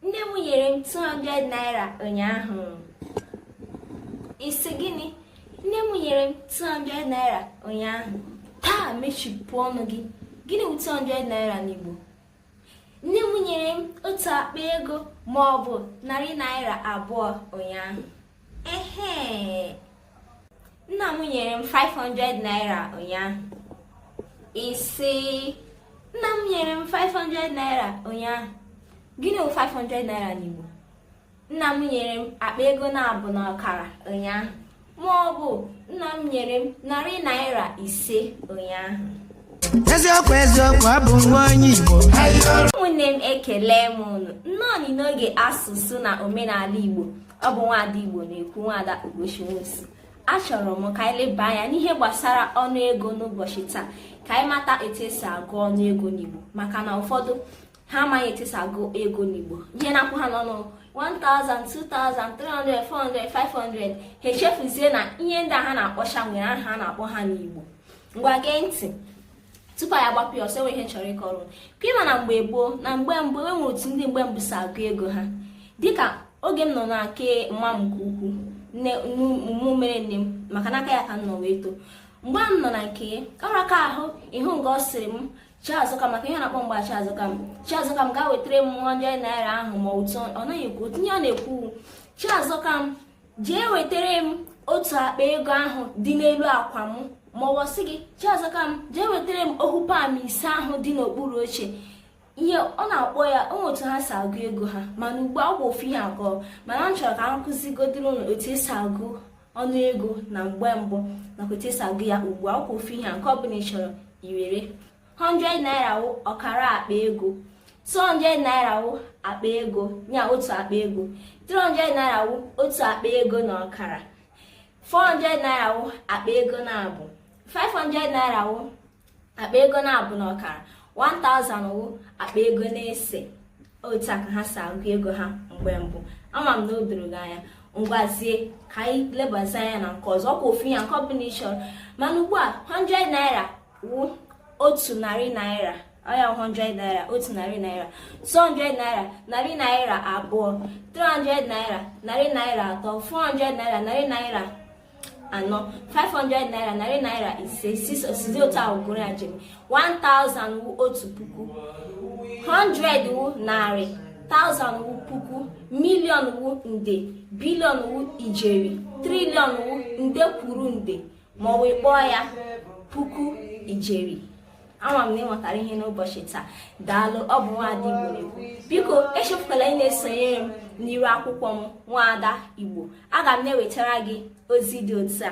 nne m nyere m 200 naira ụnyaahụ ị sị gịnị nne m nyere m 200 naira ụnyaahụ taa mechipụ ọnụ gị gịnị bụ 200 naira n'igbo nne m nyere m otu akpa ego ma ọ bụ narị naira abụọ ụnyaahụ ehe nna m nyere m 500 naira ụnyaahụ ị sị nna m nyere m 500 naira ụnyaahụ gịnị bụ 500 naira n'igbo nna m nyere m akpa ego naabọ na ọkara ụnyaahụ ma ọ bụ nna m nyere m narị naira ise ụnyaahụ eziokwu eziokwu ị bụ nwa onye igbo ụmụnne m ekele m unu nnọọ n'oge asụsụ na omenala igbo ọ bụ nwaada Igbo na-ekwu nwaada Ugochi Nwosu achọrọ m ka anyị leba anya n'ihe gbasara ọnụ ego n'ụbọchị taa ka anyị mata etu e si agụ ọnụ ego n'Igbo maka na ụfọdụ ha amaghị etu e si agụ ego n'Igbo ihe na-akwụ ha n'ọnụ 1000 2000 300 400 500 ha echefuzie na ihe ndị a ha na-akpọcha nwere aha a na-akpọ ha n'Igbo ngwa gee ntị tupu anyị agbapụ ya ọsọ e nwe ihe m chọrọ ịkọrọ ka ị ma na mgbe gboo na mgbe mbụ e nwe otu ndị mgbe mbụ si agụ ego ha dịka oge m nọ na nke mma m nke ukwu nne mụ mere nne m maka n'aka ya ka m nọ wee too mgbe a m nọ na nke ọrụ aka ahụ ịhụ nga ọ sịrị m chiazọka maka ihe ọ na-akpọ m wụ chiazọkam chiazọkam gaa wetara m 100 naira ahụ ma otu ọ naghị ekwu otu ihe ọ na-ekwu chiazọkam jee wetara m otu akpa ego ahụ dị n'elu akwa m ma ọ bụ sị gị chiazọkam jee wetara m ohu pam ise ahụ dị n'okpuru oche ihe ọ na-akpọ ya ọ wụ otu ha si agụ ego ha mana ugbu a wụkwa ofu ihe agụọ mana m chọrọ ka m kụzigodoro ụnụ otu e si agụ ọnụ ego na mgbe mbụ nakwa otu e si agụ ya ugbu a ọ wụkwa ofu ihe nke ọ bụla ị chọrọ iwere 100 naira wụ ọkara akpa ego 200 naira wụ akpa ego ya otu akpa ego 300 naira wụ otu akpa ego na ọkara 400 naira wụ akpa ego naabọ 500 naira wụ akpa ego naabọ na ọkara 1000 wụ akpa ego n'ise otu a ka ha si agụ ego ha mgbe mbụ ama m na o doro gị anya ngwazie ka anyị lebazi anya na nke ọzọ ọ kwa ofu ihe nke ọ bụla ị chọrọ mana ugbu a 100 naira wụ otu narị naira ọ ya 100 naira otu narị naira 200 naira narị naira abụọ 300 naira narị naira atọ 400 naira narị naira anọ 500 naira narị naira ise sizi otu ahụ gụrụ ya jiri 1000 wụ otu puku 100 wụ narị 1000 wụ puku million wụ nde billion wụ ijeri trillion wụ nde kwuru nde ma ọ bụ ị kpọọ ya puku ijeri ama m na i nwetara ihe n'ụbọchị taa daalụ ọ bụ nwaada igbo na-ekwu biko echefukwala ị na-esonyere m n'iru akwụkwọ m nwaada igbo aga m na-ewetara gị ozi dị otu a